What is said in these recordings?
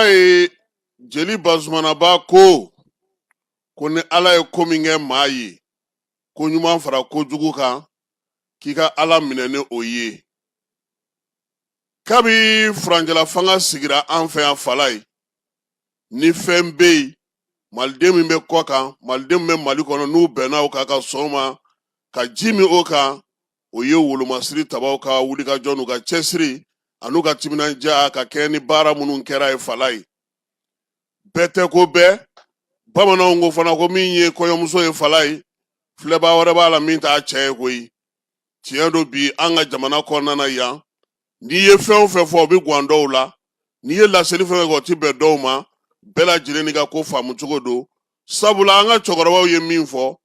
ye jeli bazumanaba ko ko ni ala ye ko min kɛ maa ye ko ɲuman fara kojugu kan k'i ka ala minɛ ni o ye kabi furancɛla fanga sigira an fɛ yan falaye ni fɛn bɛ yen maliden min bɛ kɔ kan maliden min bɛ mali kɔnɔ n'u bɛnna o kan ka sɔn ma ka ji min o kan o ye wolomasiri tabaw ka wulikajɔ n'u ka cɛsiri an'u ka timinandiya ka kɛɲɛ ni baara minnu kɛra ye falaye bɛɛ tɛ ko bɛɛ bamananw ko fana ko min ye kɔɲɔmuso ye falaye filɛbaa wɛrɛ b'a la min t'a cɛ ye koyi tiɲɛ don bi an ka jamana kɔnɔna na yan n'i ye fɛn o fɛn fɔ o bɛ gan dɔw la n'i ye laseli fɛn fɛn kɛ o tɛ bɛn dɔw ma bɛɛ lajɛlen n'i ka ko faamu cogo don sabula an ka cɛkɔrɔbaw ye min fɔ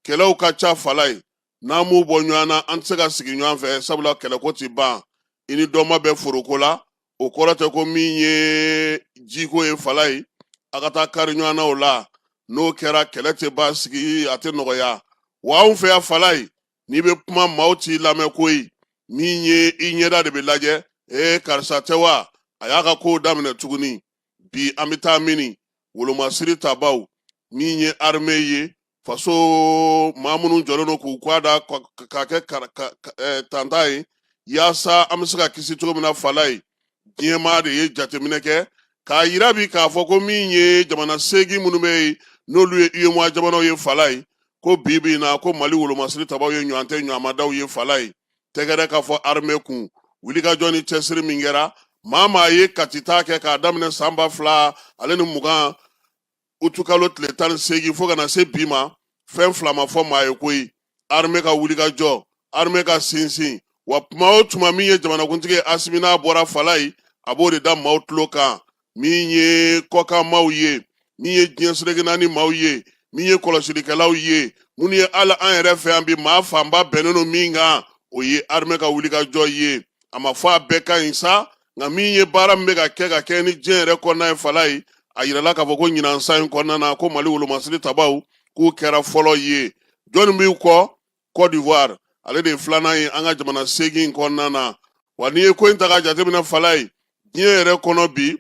kɛlɛw ka ca falaye n'an m'u bɔ ɲɔgɔn na an tɛ se ka sigi ɲɔgɔn fɛ sabula kɛlɛko tɛ ban i ni dɔ ma bɛn foroko la o kɔrɔ tɛ ko min ye jiko ye falaye a ka taa kari ɲɔgɔn na o la n'o kɛra kɛlɛ tɛ basigi a tɛ nɔgɔya wa anw fɛ yan falaye n'i bɛ kuma maaw t'i lamɛn koyi min ye i ɲɛda de bɛ lajɛ ee karisa tɛ wa a y'a ka kow daminɛ tuguni bi an bɛ taa mini wolomasiri tabaw min ye arime ye faso maa minnu jɔlen don k'u kɔ da k'a kɛ tanta ye yaasa an bɛ se ka kisi cogo min na falaye diɲɛmaa de ye jateminɛ kɛ k'a yira bi k'a fɔ ko min ye jamana seegin minnu bɛ yen n'olu ye UEMOA jamanaw ye falaye ko bi bi in na ko Mali wolomasiri tabaw ye ɲɔgɔn tɛ ɲɔgɔnmadaw ye falaye tɛgɛrɛ ka fɔ armée kun wulikajɔ ni cɛsiri min kɛra maa maa ye katita kɛ k'a daminɛ san ba fila ale ni mugan utu kalo tile tan ni seegin fo ka na se bi ma fɛn fila ma fɔ maa ye koyi arme ka wulikajɔ arme ka sinsin wa tuma o tuma min ye jamanakuntigi ye asimi n'a bɔra falaye a b'o de da maaw tulo kan min ye kɔkan maaw ye min ye diɲɛ seleke naani maaw ye min ye kɔlɔsilikɛlaw ye minnu ye hali an yɛrɛ fɛ yan bi maa fanba bɛnnen don min kan o ye arme ka wulikajɔ ye a ma fɔ a bɛɛ ka ɲi sa nka min ye baara min bɛ ka kɛ ka kɛɲɛ ni diɲɛ yɛrɛ kɔnɔna ye falaye a yirala k'a fɔ ko ɲinan san in kɔnɔna na ko mali wolomasiri tabaw k'u kɛra fɔlɔ ye jɔnni b'u kɔ cote d'ivoire ale de ye filanan ye an ka jamana seegin kɔnɔna na wa n'i ye ko in ta ka jateminɛ falaye diɲɛ yɛrɛ kɔnɔ bi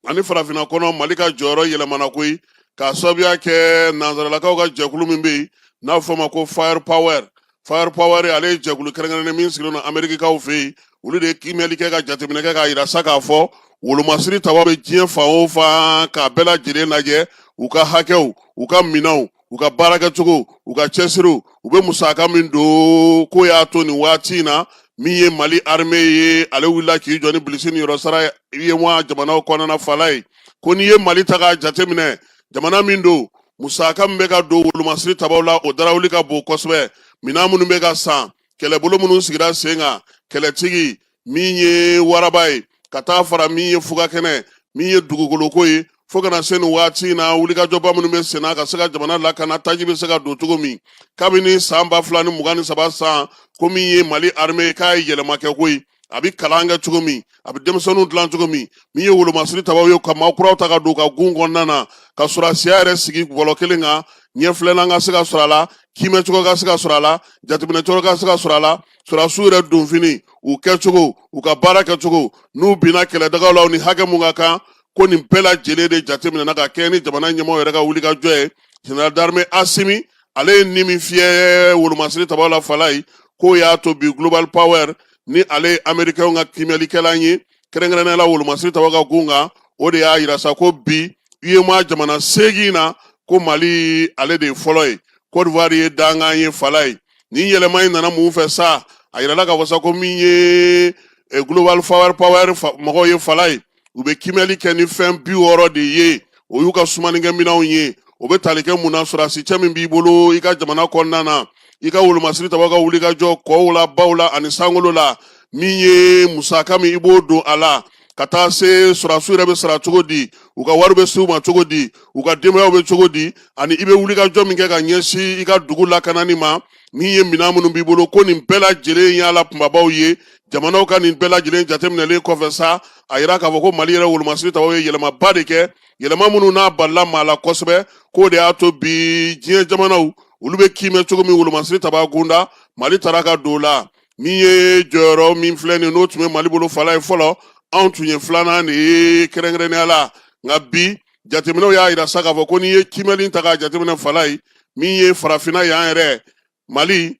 ani farafinna kɔnɔ mali ka jɔyɔrɔ yɛlɛmana koyi k'a sababuya kɛ nanzaralakaw ka jɛkulu min bɛ yen n'a fɔ ma ko fire power fire power ale ye jɛkulu kɛrɛnkɛrɛnnen min sigilen don amerikikaw fɛ yen olu de ye kiimɛli kɛ ka jateminɛ kɛ k'a yira sa k'a fɔ wolomasiri taba bɛ diɲɛ fan o fan k'a bɛɛ lajɛlen lajɛ u ka hakɛw u ka minɛnw u ka baara kɛcogo u ka cɛsiriw u bɛ musaka min don k'o y'a to nin waati in na min ye mali arime ye ale wulila k'i jɔ ni bilisi ni yɔrɔ sara uyema jamanaw kɔnɔna fala ye ko n'i ye mali ta k'a jateminɛ jamana min don musaka min bɛ ka don wolomasiri tabaw la o darawuli ka bon kosɛbɛ minan minnu bɛ ka san kɛlɛbolo minnu sigira sen kan kɛlɛtigi min ye waraba ye ka taa fara min ye fugakɛnɛ min ye dugukoloko ye fo kana se nin waati in na wulikajɔba minnu bɛ senna ka se ka jamana lakana taji bɛ se ka don cogo min kabini san ba fila ni mugan ni saba sanko min ye mali arime k'a ye yɛlɛma kɛ koyi a bɛ kalan kɛ cogo min a bɛ denmisɛnninw dilan cogo min min ye wolomasiri tabaw ye ka maa kuraw ta ka don ka gun kɔnɔna na ka sɔrɔsiya yɛrɛ sigi bɔlɔ kelen kan ɲɛfilɛlan ka se ka sɔrɔ a la kiimɛ cogo ka se ka sɔrɔ a la jateminɛ cogo ka se ka sɔrɔ a la sɔrɔsiw yɛrɛ donfini u kɛcogo u ka baara kɛcogo n'u binna kɛlɛdagaw la u ni hakɛ mun ka kan ko nin bɛɛ lajɛlen de jateminɛna ka kɛɲɛ ni jamana ɲɛmɔgɔ yɛrɛ ka wulikajɔ ye général d'armée asimi ale ye ni min fiyɛ wolomasiri tabaw la fala ye k'o y'a to bi global power ni ale ye amerikɛnw ka kiimɛlikɛlan ye kɛrɛnkɛrɛnnenya la wolomasiri tabaw ka gun kan o de y'a yira sa ko bi uyema jamana seegin na ko mali ale de ye fɔlɔ ye côte d'ivoire ye dankan ye fala ye nin yɛlɛma in nana mun fɛ sa a yirala k'a fɔ sa ko min ye eh, global power power mɔgɔw ye fala ye u bɛ kimɛli kɛ ni fɛn bi wɔɔrɔ de ye o y'u ka sumanikɛ minɛnw ye o bɛ tali kɛ mun na sɔrɔsi cɛ min b'i bolo i ka jamana kɔnɔna na i ka wolomasiri tabaw ka wulikajɔ kɔw la baw la ani sankolo la min ye musaka min i b'o don a la ka taa se sɔrɔsiw yɛrɛ bɛ sara cogo di u ka wari bɛ se u ma cogo di u ka denbayaw bɛ cogo di ani i bɛ wulikajɔ min kɛ ka ɲɛsin i ka dugu lakanani ma min ye minɛn minnu b'i bolo ko nin bɛɛ lajɛlen y'a la kunbabaw ye jamanaw ka nin bɛɛ lajɛlen jateminɛlen kɔfɛ sa a yira k'a fɔ ko mali yɛrɛ wolomasiri tabaw ye yɛlɛmaba de kɛ yɛlɛma minnu n'a balila maa la kosɛbɛ k'o de y'a to bi diɲɛ jamanaw olu bɛ kiimɛ cogo min wolomasiri tabaw gunda mali tara ka don o la min ye jɔyɔrɔ min filɛ nin n'o tun bɛ mali bolo fala ye fɔlɔ anw tun ye filanan de ye kɛrɛnkɛrɛnnenya la nka bi jateminɛw y'a yira sa k'a fɔ ko n'i ye kimɛli ta k'a jateminɛ fala ye min ye farafinna y'an yɛrɛ mali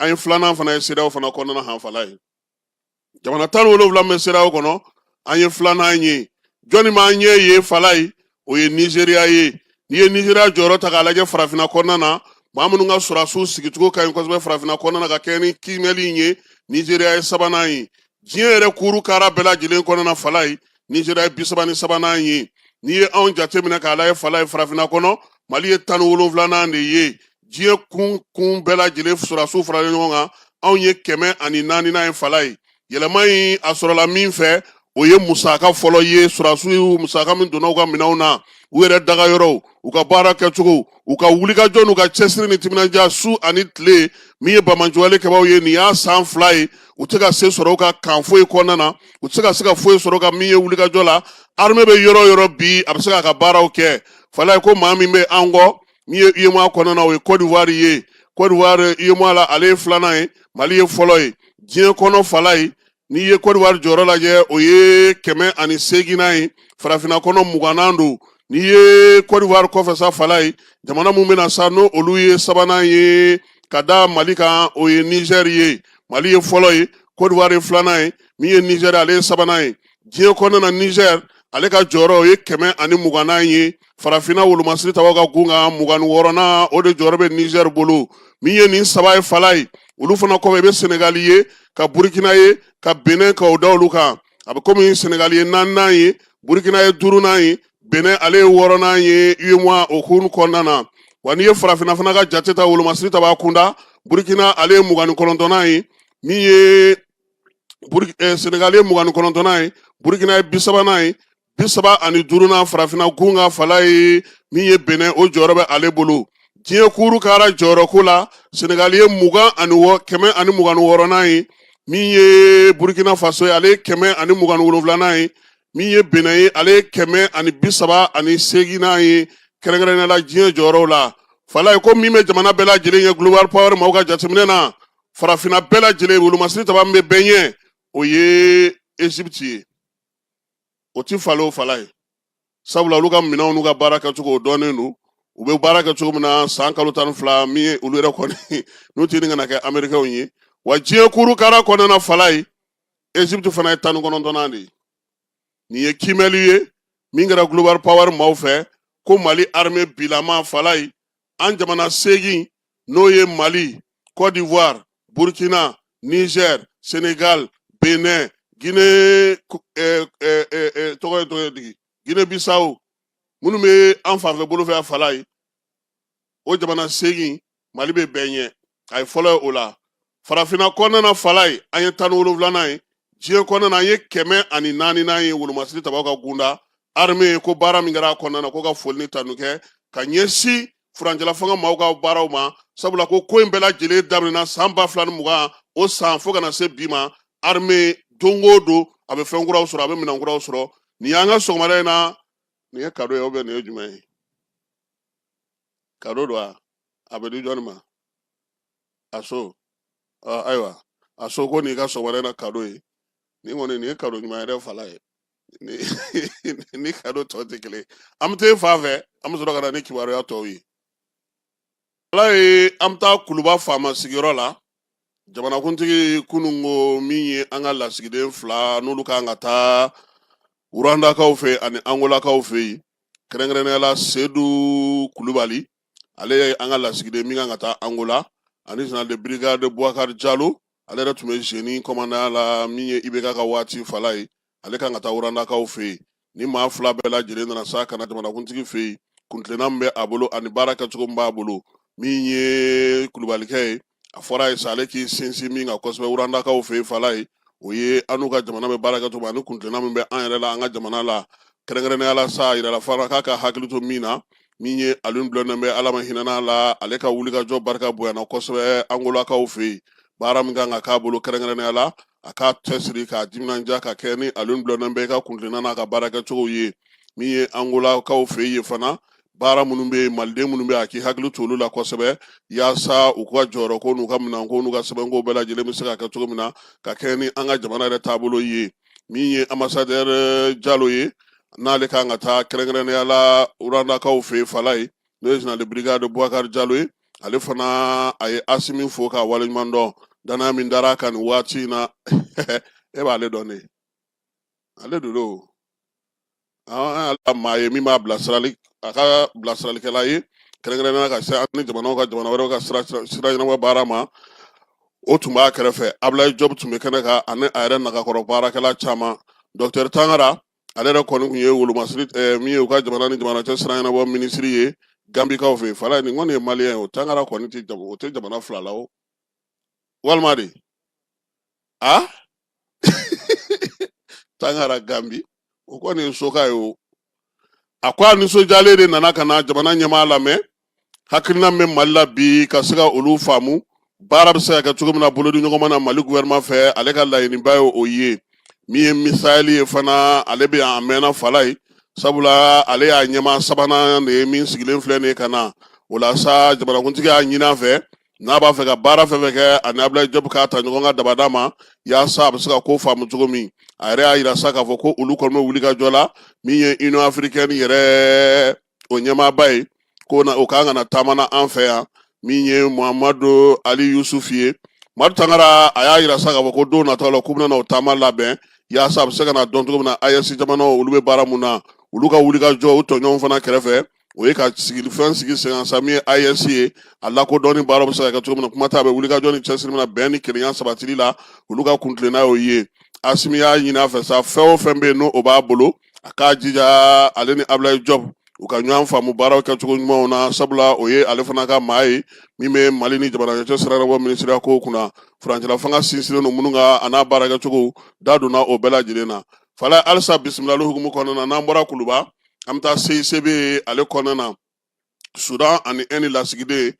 an ye filanan fana ye sedeyawo fana kɔnɔna han fala ye jamana tan ni wolonwula min bɛ sedeyawo kɔnɔ an ye filanan ye jɔnni m'an ɲɛ ye fala ye o ye nizeriya ye n'i ye nizeriya jɔyɔrɔ ta k'a lajɛ farafinna kɔnɔna na maa minnu ka sɔrɔsiw sigicogo ka ɲi kosɛbɛ farafinna kɔnɔna na ka kɛɲɛ ni kiimɛli in ye nizeriya ye sabanan ye diɲɛ yɛrɛ kuuru kara bɛɛ lajɛlen kɔnɔna fala ye nizeriya ye bisaba ni sabanan ye n'i ye anw jateminɛ k'a lajɛ fala ye farafinna kɔnɔ mali ye tan ni wolonwulanan de ye diɲɛ kun kun bɛɛ lajɛlen sɔrɔdasiw faralen ɲɔgɔn kan anw ye kɛmɛ ani naaninan ye falaye yɛlɛma in a sɔrɔla min fɛ o ye musaka fɔlɔ ye sɔrɔdasiw musaka min donna u ka minɛnw na u yɛrɛ dagayɔrɔw u ka baara kɛcogo u ka wulikajɔ n'u ka cɛsiri ni timinandiya su ani tile min ye banbaanci wale kɛbaaw ye nin y'a san fila ye u tɛ ka se sɔrɔ u ka kan foyi kɔnɔna na u tɛ se ka se ka foyi sɔrɔ ka min ye wulikajɔ la armée bɛ yɔrɔ yɔrɔ bi a bɛ se k'a ka baaraw kɛ falaye ko maa min bɛ an kɔ min ye UEMOA kɔnɔna o ye Cote d'Ivoire ye Cote d'Ivoire UEMOA la ale ye filanan ye Mali ye fɔlɔ ye diɲɛ kɔnɔ Falaye n'i ye Cote d'Ivoire jɔyɔrɔ lajɛ o ye kɛmɛ ani seeginnan ye farafinna kɔnɔ mugannan don n'i ye Cote d'Ivoire kɔfɛ sa Falaye jamana min bɛ na sa n'olu ye sabanan ye ka da Mali kan o ye Niger ye Mali ye fɔlɔ ye Cote d'Ivoire ye filanan ye min ye Niger ale ye sabanan ye diɲɛ kɔnɔna na nizɛr ale ka jɔyɔrɔ o ye kɛmɛ ani mugannan ye farafinna wolomasiri tabaw ka gun kan mugan ni wɔɔrɔnan o de jɔyɔrɔ bɛ nizɛr bolo min ye nin saba ye falaye olu fana kɔfɛ i bɛ senegali ye ka burukina ye ka benin ka o da olu kan a bɛ komi senegali ye naaninan ye burukina ye duurunan ye benin ale ye wɔɔrɔnan ye uemoa o hukumu kɔnɔna na wa n'i ye farafinna fana ka jate ta wolomasiri taba kunda burukina ale ye mugan ni kɔnɔntɔnnan ye min ye eh, senegali ye mugan ni kɔnɔntɔnnan ye burukina ye bi sabanan ye bi saba ani duurunan farafinna gun kan falaye min ye benɛ o jɔyɔrɔ bɛ ale bolo diɲɛ kuuru kara jɔyɔrɔko la senegali ye mugan ani wɔ kɛmɛ ani mugan ni wɔɔrɔnan ye min ye burukina faso ye ale ye kɛmɛ ani mugan ni wolonwulanan ye min ye benɛ ye ale ye kɛmɛ ani bi saba ani seeginnan ye kɛrɛnkɛrɛnnenya la diɲɛ jɔyɔrɔw la falaye ko min bɛ jamana bɛɛ lajɛlen ye global power maaw ka jateminɛ na farafinna bɛɛ lajɛlen wolomasiri taba min bɛ bɛɛ ɲɛ o ye ezipti ye o ti falen o falaye sabula olu ka minɛnw n'u ka baara kɛcogo o dɔnnen don u bɛ baara kɛ cogo min na san kalo tan ni fila min ye olu yɛrɛ kɔni n'u tɛ ni kana kɛ amerikɛnw ye wa diɲɛ kuru kara kɔnɔna falaye ezipti fana ye tan ni kɔnɔntɔnnan de ye nin ye kiimɛli ye min kɛra global power maaw fɛ ko mali arme bilama falaye an jamana seegin n'o ye mali cote d'ivoire burkina niger senegal benin guinee eh, eh, eh, togo ye togo ye digi guinee bissau minnu bɛ an fanfɛ bolo fɛ a falaye o jamana seegin mali bɛ bɛɛ ɲɛ a ye fɔlɔ ye o la farafinna kɔnɔna na fala ye an ye tan ni wolonwulanan ye diɲɛ kɔnɔna na an ye kɛmɛ ani naaninan ye wolomasiri tabaw ka gunda arme ko baara min kɛra a kɔnɔna na ko ka foli ni tanu kɛ ka ɲɛsin furancɛla fanga maaw ka baaraw ma sabula ko ko in bɛɛ lajɛlen daminɛna san ba fila ni mugan o san fo ka na se bi ma arme don o don a bɛ fɛn kuraw sɔrɔ a bɛ minɛn kuraw sɔrɔ nin y'an ka sɔgɔmada in na nin ye kado ye ou bien nin ye jumɛn ye kado don a a bɛ di jɔnni ma a so ayiwa a so ko n'i ka sɔgɔmada na kado ye nin kɔni nin ye kado ɲuman yɛrɛ fala ye ni kado tɔ tɛ kelen an bɛ taa fan fɛ an bɛ sɔrɔ ka na ni kibaruya tɔw ye ala ye an bɛ taa kuluba faama sigiyɔrɔ la jamanakuntigi kunun ko min ye an ka lasigiden fila n'olu kan ka taa ruwandakaw fɛ ani angolakaw fɛ yen kɛrɛnkɛrɛnnenya la sedu kulubali ale ye an ka lasigiden min kan ka taa angola ani général de brigade buwakari jalo ale yɛrɛ tun bɛ zeni kɔmandanya la min ye ibk ka waati fala ye ale kan ka taa ruwandakaw fɛ yen ni maa fila bɛɛ lajɛlen nana sa ka na jamanakuntigi fɛ yen kuntilenna min bɛ a bolo ani baara kɛcogo min b'a bolo min ye kulubalikɛ ye a fɔr'a ye sa ale k'i sinsin min kan kosɛbɛ ruwandakaw fɛ yen fala ye o ye an n'u ka jamana bɛ baara kɛcogo ani kuntilenna min bɛ an yɛrɛ la an ka jamana la kɛrɛnkɛrɛnnenya la sa yirala fana k'a ka hakili to min na min ye aliyun bulɔndɛn bɛyi ala ma hinɛna la ale ka wulikajɔ barika bonyana kosɛbɛ angolakaw fɛ yen baara min kan ka k'a bolo kɛrɛnkɛrɛnnenya la a k'a cɛsiri k'a timinandiya ka kɛɲɛ ni aliyun bulɔndɛn bɛyi ka kuntilenna n'a ka baara kɛcogo ye min ye angolakaw fɛ yen fana baara minnu bɛ yen maliden minnu bɛ yen a k'i hakili to olu la kosɛbɛ yaasa u ka jɔyɔrɔko n'u ka minɛnko n'u ka sɛbɛnko bɛɛ lajɛlen bɛ se ka kɛ cogo min na ka kɛɲɛ ni an ka jamana yɛrɛ taabolo ye min ye anbasadɛri jalo ye n'ale kan ka taa kɛrɛnkɛrɛnnenya la ruwandakaw fɛ yen fala ye n'o ye général de brigade bubakari jalo ye ale fana a ye asimi fo k'a waleɲuman dɔn danaya min dara a kan nin waati in na e b'ale dɔn de ale de don an ala maa ye min b'a bilasirali a ka bilasiralikɛla ye kɛrɛnkɛrɛnnenya ka se an ni jamanaw ka jamana wɛrɛw ka sira sira ɲɛnabɔ baara ma o tun b'a kɛrɛfɛ abulayi jɔb tun bɛ kɛnɛ kan ani a yɛrɛ nagakɔrɔ baarakɛla caman dɔktɛri tangara ale yɛrɛ kɔni tun ye wolomasiri eh, min ye u ka jamana ni jamana cɛ sira ɲɛnabɔ minisiri ye gambikaw fɛ yen fala nin kɔni ye maliyɛn ye o tangara kɔni tɛ jam- o tɛ jamana fila la o walima de a tangara gambi o kɔni ye soka ye o a ko a nisɔndiyalen de nana ka na jamana ɲɛmaa lamɛn hakilina min bɛ mali la bi ka se ka olu faamu baara bɛ se ka kɛ cogo min na bolodiɲɔgɔnma na mali gouvernement fɛ ale ka laɲiniba ye o ye min ye misayɛli ye fana ale bɛ yan a mɛnna fala ye sabula ale y'a ɲɛmaa sabanan de ye min sigilen filɛ nin ye ka na o la sa jamanakuntigi y'a ɲin'a fɛ n'a b'a fɛ ka baara fɛn fɛn kɛ ani abulayi jɔbu k'a ta ɲɔgɔn ka dabada ma yaasa a bɛ se ka ko faamu cogo min a yɛrɛ y'a yira sa k'a fɔ ko olu kɔni bɛ wuli ka jɔ la min ye union africaine yɛrɛ o ɲɛmaaba ye ko na o kan ka na taama na an fɛ yan min ye muhamadu ali yusufu ye madu tangara a y'a yira sa k'a fɔ ko don nataw la k'u bɛna o taama labɛn yaasa a bɛ se ka na dɔn cogo min na ayɛsi jamanaw olu bɛ baara mun na olu ka wuli ka jɔ u tɔɲɔgɔnw fana kɛrɛfɛ o ye ka sigi fɛn sigi sen kan sa min ye AES ye a lakodɔnni baaraw bɛ se ka kɛ cogo min na kuma t'a bɛ wulikajɔ ni cɛsiri na bɛn ni kelenya sabatili la olu ka kuntilenna y'o ye Asimi y'a ɲini a fɛ sa fɛn o fɛn bɛ yen n'o b'a bolo a k'a jija ale ni Abilaye Jɔp u ka ɲɔgɔn faamu baaraw kɛcogo ɲumanw na sabula o ye ale fana ka maa ye min bɛ mali ni jamanaw cɛsira ɲɛnabɔ minisiriya kow kunna furancɛla fanga sinsinnen don minnu kan a n'a baarakɛcogo da donna o bɛɛ lajɛlen na fala halisa bisimilali hukumu kɔnɔna na n'an bɔra kuluba an bɛ taa CICB ale kɔnɔna na Sudan ani Ɛndi lasigiden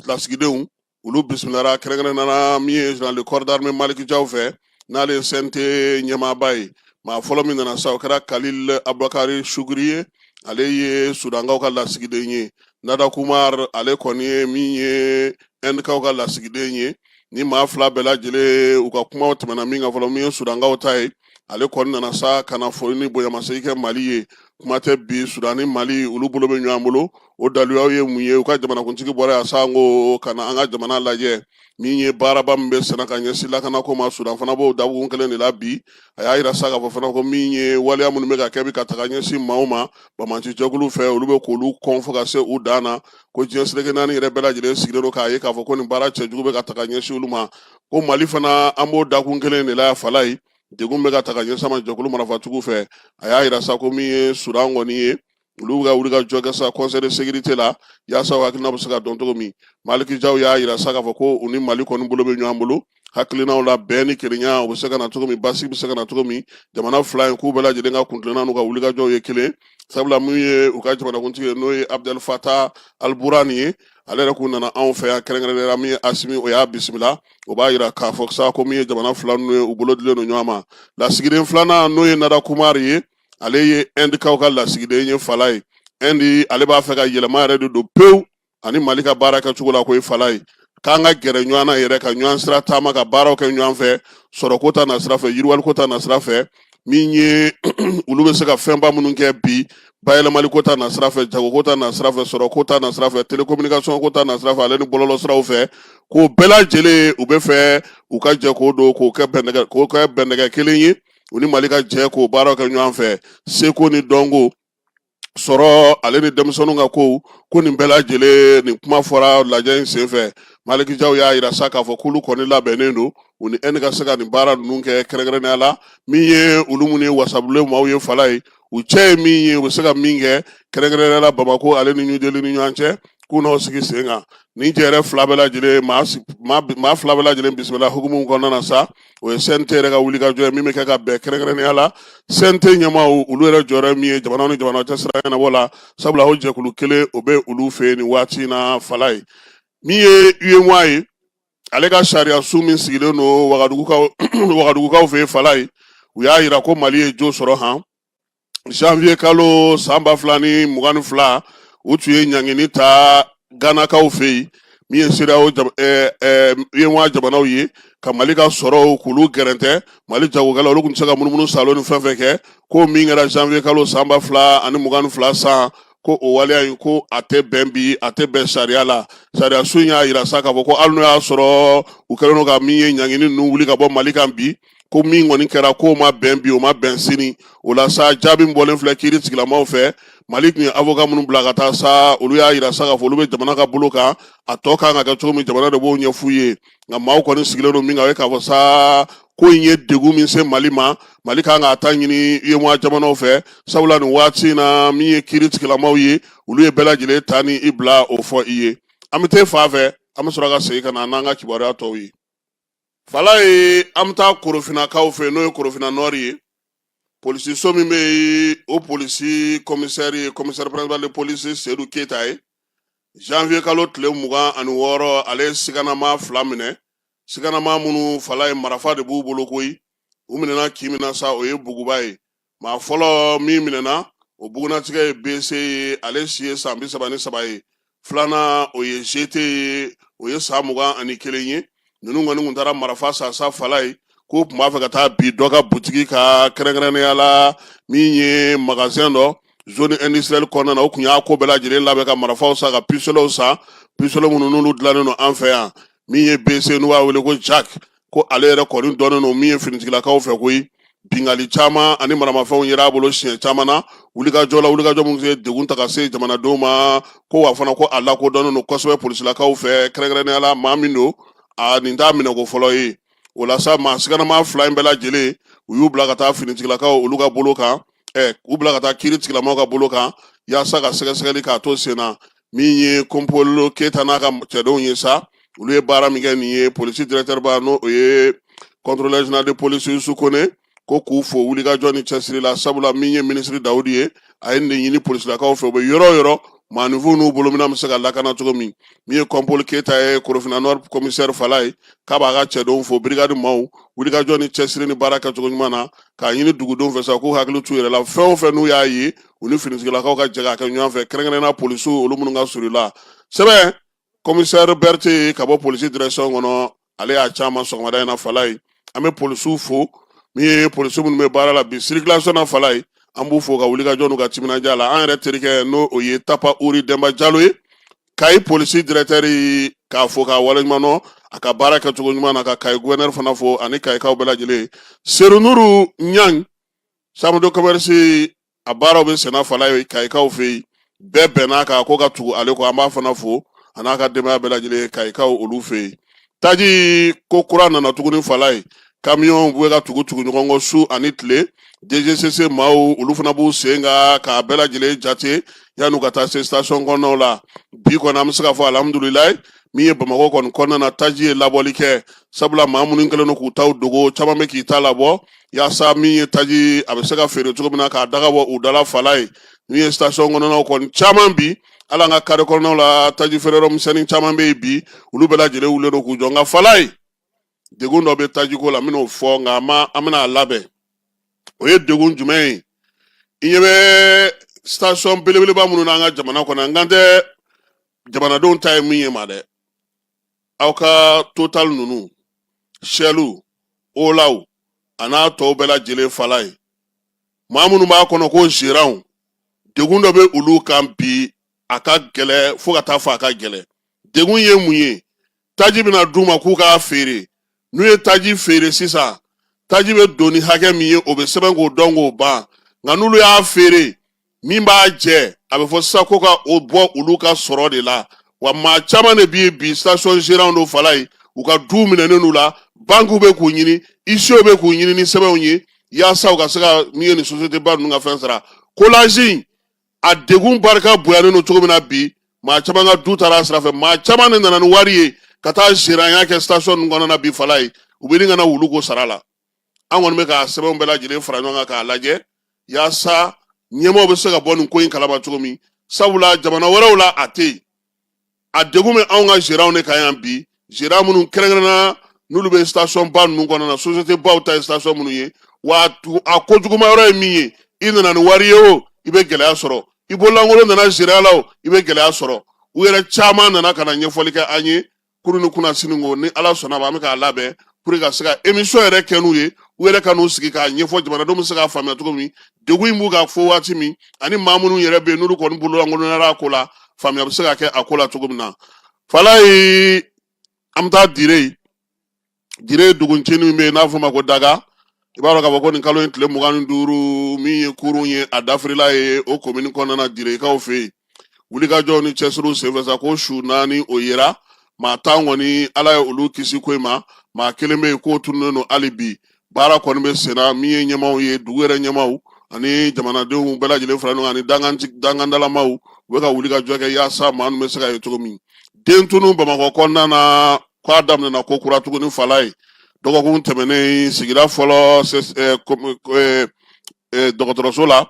lasigidenw olu bisimilara kɛrɛnkɛrɛnnenya min ye général de corps d'armée Maliki Jaw fɛ n'ale ye CNT ɲɛmaaba ye maa fɔlɔ min nana sa o kɛra Kalil Abubakari Suguri ye ale ye Sudankaw ka lasigiden ye Nada Kumar ale kɔni ye min ye Ɛndikaw ka lasigiden ye nin maa fila bɛɛ lajɛlen u ka kumaw tɛmɛna min kan fɔlɔ min ye Sudankaw ta ye ale kɔni nana sa ka na foli ni bonyamasegin kɛ mali ye kuma tɛ bi sudan ni mali olu bolo bɛ ɲɔgɔn bolo o daliluyaw ye mun ye u ka jamanakuntigi bɔra yan sa ko ka na an ka jamana lajɛ min ye baaraba min bɛ sen na ka ɲɛsin lakanako ma sudan fana b'o dakun kelen de la bi a y'a yira sa k'a fɔ fana ko min ye waleya minnu bɛ ka kɛ bi ka taga ɲɛsin maaw ma bamanci jɛkulu fɛ olu bɛ k'olu kɔn fo ka se u dan na ko diɲɛ seleke naani yɛrɛ bɛɛ lajɛlen sigilen don k'a ye k'a fɔ ko nin baara cɛjugu bɛ ka taga ɲɛsin olu ma ko mali fana an b'o dakun kelen de la fala ye degun bɛ ka taga ɲɛsin an ma jɛkulu marafatigiw fɛ a y'a yira sa ko min ye sudan kɔni ye olu ka wuli ka jɔ kɛ sa conseil de sécurité la yaasa hakilina bɛ se ka dɔn cogo min maliki jaw y'a yira sa k'a fɔ ko u ni mali kɔni bolo bɛ ɲɔgɔn bolo hakilinaw la bɛn ni kelenya u bɛ se ka na cogo min basigi bɛ se ka na cogo min jamana fila in k'u bɛɛ lajɛlen ka kuntilenna n'u ka wulikajɔw ye kelen sabula min ye u ka jamanakuntigi ye n'o ye abudɛli fata aliburani ye ale yɛrɛ kun nana anw fɛ yan kɛrɛnkɛrɛnnenya min ye asimi o y'a bisimila o b'a yira k'a fɔ sa ko min ye jamana fila ninnu ye u bolo dilen don ɲɔgɔn ma lasigiden filanan n'o ye nada kumari ye ale ye ɛndikaw ka lasigiden ye fala ye ɛndi ale b'a fɛ ka yɛlɛma yɛrɛ de don pewu ani mali ka baara kɛcogo la ko ye fala ye k'an ka gɛrɛ ɲɔgɔn na yɛrɛ ka ɲɔgɔn sira taama ka baaraw kɛ ɲɔgɔn fɛ sɔrɔko ta nasira fɛ yiriwaliko ta nasira fɛ min ye olu bɛ se ka fɛnba minnu kɛ bi bayɛlɛmaliko ta nasira fɛ jagoko ta nasira fɛ sɔrɔko ta nasira fɛ telekominikasɔn ko ta nasira fɛ ale ni bɔlɔlɔ siraw fɛ k'o bɛɛ lajɛlen u b'a fɛ u ka jɛ k'o don k'o k'o kɛ bɛnɛgɛ kelen ye u ni mali ka jɛ k'o baaraw kɛ ɲɔgɔn fɛ seko ni dɔnko sɔrɔ ale ni denmisɛnninw ka ko ko nin bɛɛ lajɛlen nin kuma fɔra lajɛ in senfɛ maliki jaw y'a yira sa k'a fɔ k'olu kɔni labɛnnen don u ni inde ka se ka nin baara ninnu kɛ kɛrɛnkɛrɛnnenya la min ye olu minnu ye wasabulon maaw ye fala ye u cɛ ye min ye u bɛ se ka min kɛ kɛrɛnkɛrɛnnenya la bamako ale ni new delhi ni ɲɔgɔn cɛ k'u n'o sigi sen kan nin jɛɛrɛ fila bɛɛ lajɛlen maa fila bɛɛ lajɛlen bisimila hukumu kɔnɔna na sa o ye cnt yɛrɛ ka wuli ka jɔ ye min bɛ kɛ ka bɛn kɛrɛnkɛrɛnnenya la cnt ɲɛmaaw olu yɛrɛ jɔyɔrɔ min ye jamana ni jamana cɛ sira ɲɛnabɔ la sabula o jɛkulu kelen o bɛ olu fɛ yen nin waati in na fala ye min ye uemoa ye ale ka sariya so min sigilen don wagadugukaw fɛ yen fala ye u y'a yira ko mali ye jo sɔrɔ han janvier kalo san ba fila ni mugan ni fila u tun ye ɲangini ta ganakaw fɛ yen min ye cedeao uemoa jamanaw ye ka mali ka sɔrɔw k'olu gɛrɛntɛ mali jagokɛla olu kun tɛ se ka munumunu saalo ni fɛn fɛn kɛ ko min kɛra janvier kalo san ba fila ani mugan ni fila san ko o waleya in ko a tɛ bɛn bi a tɛ bɛn sariya la sariya so in y'a yira sa k'a fɔ ko hali n'o y'a sɔrɔ u kɛlen don ka min ye ɲangini ninnu wuli ka bɔ mali kan bi ko min kɔni kɛra k'o ma bɛn bi o ma bɛn sini o la sa jaabi min bɔlen filɛ kiiri tigilamaw fɛ mali tun ye avoka minnu bila ka taa sa olu y'a yira sa k'a fɔ olu bɛ jamana ka bolo kan a tɔ kan ka kɛ cogo min jamana de b'o ɲɛf'u ye nka maaw kɔni sigilen don min kan o ye k'a fɔ sa ko in ye degun min se mali ma mali kan k'a ta ɲini uemoa jamanaw fɛ sabula nin waati in na min ye kiiri tigilamaw ye olu ye bɛɛ lajɛlen ta ni i bila o fɔ i ye an bɛ taa fan fɛ an bɛ sɔrɔ ka segin ka na n'an ka kibaruya tɔw ye Fala ye an bɛ taa korofinnakaw fɛ n'o ye korofinna nord ye polisiso min bɛ yen o polisi kɔmisɛri ye commissaire principal de police seyidu keyita ye janvier kalo tile mugan ani wɔɔrɔ ale ye siganama fila minɛ siganama minnu fala ye marifa de b'u bolo koyi u minɛna kin min na sa o ye buguba ye maa fɔlɔ min minɛna o bugunnatigɛ ye bc ye ale si ye san bi saba ni saba ye filanan o ye gt ye o ye san mugan ani kelen ye ninnu kɔni kun taara marafa san sa fala ye k'u tun b'a fɛ ka taa bin dɔ ka butigi kan kɛrɛnkɛrɛnnenya la min ye magasɛn dɔ zone industrielle kɔnɔna na u kun y'a ko bɛɛ lajɛlen labɛn ka marafaw san ka pisitolɛw san pisitolɛ minnu n'olu dilannen don an fɛ yan min ye bc n'u b'a wele ko jack ko ale yɛrɛ kɔni dɔnnen don min ye finitigilakaw fɛ koyi binkanni caman ani maramafɛnw yera a bolo siɲɛ caman na wulikajɔ la wulikajɔ minnu ye degun ta ka se jamanadenw ma ko wa fana ko a lakodɔnnen don kosɛbɛ polisilakaw fɛ kɛrɛnkɛrɛnnenya la maa min don a nin t'a minɛko fɔlɔ ye o la sa maa siganama fila in bɛɛ lajɛlen u y'u bila ka taa finitigilakaw olu ka bolo kan ɛ u bila ka taa kiiri tigilamaw ka bolo kan yaasa ka sɛgɛsɛgɛli k'a to sen na min ye kɔnpolo keyita n'a ka cɛdenw ye sa olu ye baara min kɛ nin ye polisi dirɛkitɛriba n'o o ye contrôleur général de police yusu kɔnɛ ko k'u fo wulikajɔ ni cɛsiri la sabula min ye minisiri dawudi ye a ye nin ɲini polisilakaw fɛ u bɛ yɔrɔ o yɔrɔ maafinw n'u bolo minan bɛ se ka lakana cogo min min ye kɔnpolo keyita ye korofinna komisɛri fala ye k'a b'a ka cɛdenw fo birigadi maaw wulikajɔ ni cɛsiri ni baara kɛcogo ɲuman na k'a ɲini dugudenw fɛ sa k'u hakili t'u yɛrɛ la fɛn o fɛn n'u y'a ye u ni finitigilakaw ka jɛ k'a kɛ ɲɔgɔn fɛ kɛrɛnkɛrɛnnenya polisiw olu minnu ka surun u la sɛbɛn komisɛri berete ka bɔ polisi dirɛkisɔn kɔnɔ ale y'a ci an ma sɔgɔmada in na fala ye an bɛ polisiw fo min ye polisiw minnu bɛ baara la bi sirikilasɔn na fala ye an b'u fo ka wulikajɔ n'u ka timinadiya la an yɛrɛ terikɛ n'o o ye tapa uri denba jalo ye kayi polisi dirɛkitɛri k'a fo k'a waleɲuman dɔn a ka baara kɛcogo ɲuman na ka kayi guwɛrinɛri fana fo ani kayikaw bɛɛ lajɛlen serunuru ɲang chambre de commerce a baaraw bɛ senna fala ye kayikaw fɛ yen bɛɛ bɛnna kan ko ka tugu ale kɔ an b'a fana fo a n'a ka denbaya bɛɛ lajɛlen kayikaw olu fɛ yen taji ko kura nana tuguni fala ye kamiyɔnw bɛ ka tugu tugu ɲɔgɔn kɔ su ani tile dgcc maaw olu fana b'u sen kan k'a bɛɛ lajɛlen jate yan'u ka taa se station kɔnɔnaw la bi kɔni an bɛ se k'a fɔ alihamudulilayi min ye bamakɔ kɔni kɔnɔna na taji ye labɔli kɛ sabula maa minnu kɛlen don k'u taw dogo caman bɛ k'i ta labɔ yaasa min ye taji a bɛ se ka feere cogo min na k'a daga bɔ u dala fala ye min ye station kɔnɔnaw kɔni caman bi ala an ka kare kɔnɔnaw la taji feere yɔrɔ misɛnnin caman bɛ yen bi olu bɛɛ lajɛlen wulilen don k'u jɔ nka fala ye degun dɔ bɛ tajiko la n bɛn'o fɔ nka an ma an bɛna a labɛn o ye degun jumɛn ye i ɲɛ bɛ station belebeleba minnu n'an ka jamana kɔnɔ n kan tɛ jamanadenw ta ye min ye ma dɛ aw ka total ninnu shɛliw olaw a n'a tɔw bɛɛ lajɛlen fala ye maa minnu b'a kɔnɔ ko zeranw degun dɔ bɛ olu kan bi a ka gɛlɛ fo ka taa fɔ a ka gɛlɛ degun ye mun ye taji bɛna d'u ma k'u k'a feere n'u ye taji feere sisan taji bɛ don ni hakɛ min ye o bɛ sɛbɛn k'o dɔn k'o ban nka n'olu y'a feere min b'a jɛ a bɛ fɔ sisan ko ka o bɔ olu ka sɔrɔ de la wa maa caman de bɛ yen bi station gérant don fala ye u ka duw minɛnen n'u la bankiw bɛ k'u ɲini isiyew bɛ k'u ɲini ni sɛbɛnw ye yaasa u ka se ka min ye nin société ba ninnu ka fɛn sara coulage in a degun barika bonyalen don cogo min na bi maa caman ka du taara a sira fɛ maa caman de nana ni wari ye ka taa zeranya kɛ station ninnu kɔnɔna na bi fala ye u bɛ ni kana wulu ko sara la an kɔni bɛ ka sɛbɛnw bɛɛ lajɛlen fara ɲɔgɔn kan k'a lajɛ yaasa ɲɛmɔgɔw bɛ se ka bɔ nin ko in kalama cogo min sabula jamana wɛrɛw la a tɛ yen a degun bɛ anw ka gérants de kan yan bi gérants minnu kɛrɛnkɛrɛnnenya n'olu bɛ station ba ninnu kɔnɔna na société baw ta ye station minnu ye wa a ko juguma yɔrɔ ye min ye i nana ni wari ye o i bɛ gɛlɛya sɔrɔ i bololankolon nana gérant la o i bɛ gɛlɛya sɔrɔ u yɛrɛ caman nana ka na ɲɛfɔli kɛ an ye kunu ni kunasini ko ni ala sɔnna a ma an bɛ k'a labɛn pour ka se ka émission yɛrɛ kɛ n'u ye u yɛrɛ ka n'u sigi k'a ɲɛfɔ jamanadenw bɛ se k'a faamuya cogo min degun in b'u kan fo waati min ani maa minnu yɛrɛ bɛ yen n'olu kɔni bololankolonyara a ko la faamuya bɛ se ka kɛ a ko la cogo min na falayi an bɛ taa dire yen dire duguncinin min bɛ yen n'a fɔ ma ko daga i b'a dɔn k'a fɔ ko nin kalo in tile mugan ni duuru min ye kurun ye a dafirila yen o komini kɔnɔna na direkaw fɛ yen wulikajɔw ni cɛsiriw senfɛ sa ko su naani o yera maa tan kɔni ala ye olu kisi ko in ma maa kelen bɛ yen k'o tununnen don hali bi baara kɔni bɛ senna min ye ɲɛmaaw ye dugu yɛrɛ ɲɛmaaw ani jamanadenw bɛɛ lajɛlen fara ɲɔgɔn kan ani dankan dankandalamaaw u bɛ ka wulikajɔ kɛ yaasa maa min bɛ se ka ye cogo min den tunu bamakɔ kɔnɔna na k'a daminɛna kokura tuguni falayi dɔgɔkun tɛmɛnen sigida fɔlɔ dɔgɔtɔrɔso la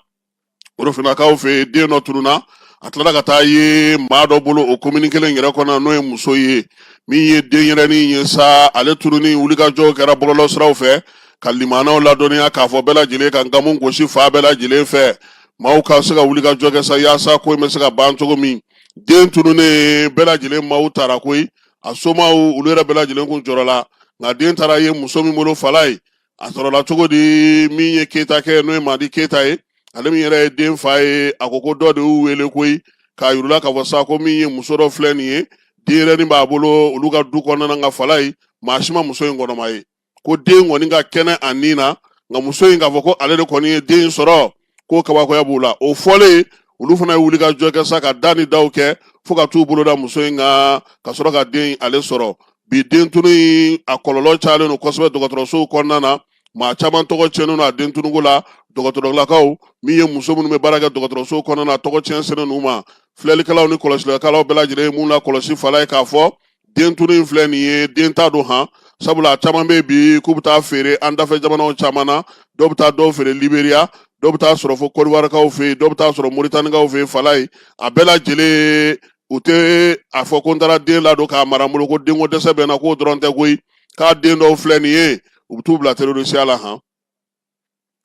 korofinakaw fɛ den dɔ tununna a tilala ka taa ye maa dɔ bolo o komini kelen yɛrɛ kɔnɔ n'o ye muso ye min ye denyɛrɛnin ye sa ale tununni wulikajɔ kɛra bɔlɔlɔsiraw fɛ ka limanaw ladɔnniya k'a fɔ bɛɛ lajɛlen ka nkamu gosi fan bɛɛ lajɛlen fɛ maaw ka se ka wulikajɔ kɛ sa yaasa ko in bɛ se ka ban cogo min den tununnen bɛɛ lajɛlen maaw taara koyi a somaw olu yɛrɛ bɛɛ lajɛlen kun jɔrɔla nka den taara ye muso min bolo falayi a sɔrɔla cogo di min ye keyita kɛ n'o ye madi keyita ye ale min yɛrɛ ye den fa ye a ko ko dɔ de y'u wele koyi k'a yir'u la k'a fɔ sa ko min ye muso dɔ filɛ nin ye denyɛrɛnin b'a bolo olu ka du kɔnɔna nka falayi maa si ma muso in kɔnɔma ye ko den kɔni ka kɛnɛ a ni na nka muso in k'a fɔ ko ale de kɔni ye den in sɔrɔ ko kabakoya b'u la o fɔlen olu fana ye wulikajɔ kɛ sa ka da ni daw kɛ fo ka t'u bolo da muso in kan ka sɔrɔ ka den in ale sɔrɔ bi den tunu in a kɔlɔlɔ cayalen don kosɛbɛ dɔgɔtɔrɔsow kɔnɔna na maa caman tɔgɔ tiɲɛnen don a den tunuko la dɔgɔtɔrɔlakaw min ye muso minnu bɛ baara kɛ dɔgɔtɔrɔsow kɔnɔna na tɔgɔ tiɲɛ selen u ma filɛlikɛlaw ni kɔlɔsilikɛlaw bɛɛ lajɛlen ye mun lakɔlɔsi falayi k'a fɔ den tunu in filɛ nin ye denta don han sabula caman bɛ bi k'u bɛ taa feere an dafɛ jamanaw caman na dɔw bɛ taa dɔw feere liberiya dɔw bɛ taa sɔrɔ fo kɔdiwarikaw fɛ yen dɔw bɛ taa sɔrɔ moritanikaw fɛ yen falayi a bɛɛ lajɛlen u tɛ a fɔ ko n taara den ladon k'a mara n bolo ko denko dɛsɛ bɛ n na k'o dɔrɔn tɛ koyi k'a den dɔw filɛ nin ye u bɛ t'u bila terorisiya la han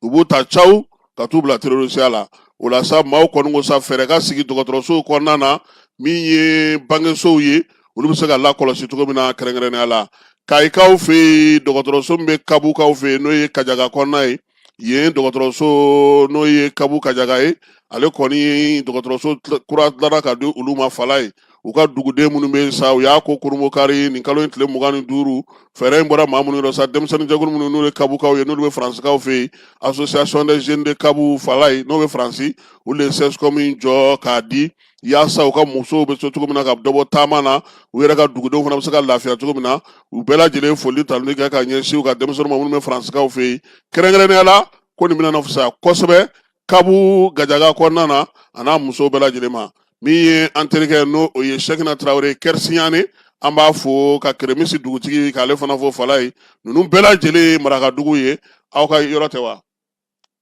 u b'u ta caw ka t'u bila terorisiya la o la sa maaw kɔni ko sa fɛɛrɛ ka sigi dɔgɔtɔrɔsow kɔnɔna na min ye bangesow ye olu bɛ se ka lakɔlɔsi cogo min na kɛrɛnkɛrɛnnenya la kayikaw fɛ yen dɔgɔtɔrɔso min bɛ kabukaw fɛ yen n'o ye kajaga kɔnɔna ye yen dɔgɔtɔrɔso n'o ye kabu kajaga ye ale kɔni dɔgɔtɔrɔso kura dilanna ka di olu ma falayi u ka duguden minnu bɛ sa u y'a ko kurumokari nin kalo in tile mugan ni duuru fɛɛrɛ in bɔra maa minnu yɔrɔ sa denmisɛnninjɛkulu minnu n'u ye kabukaw ye n'olu bɛ faransikaw fɛ yen association des jeunes de kabu falaye n'o bɛ faransi olu de ye sɛsikɔmu in jɔ k'a di yaasa u ka musow bɛ se cogo min na ka dɔ bɔ taama na u yɛrɛ ka dugudenw fana bɛ se ka lafiya cogo min na u bɛɛ lajɛlen foli tanuni kɛ ka ɲɛsin u ka denmisɛnninw ma minnu bɛ faransikaw fɛ yen kɛrɛnkɛrɛnnenya la ko nin bɛna fisaya kosɛbɛ kabu gajaga kɔnɔna na a n'a muso bɛɛ lajɛlen ma min ye an terikɛ n'o o ye sɛkina tarawele kɛrisiɲani an b'a fo ka keremisi dugutigi k'ale fana fo falaye ninnu bɛɛ lajɛlen ye marakadugu ye aw ka yɔrɔ tɛ wa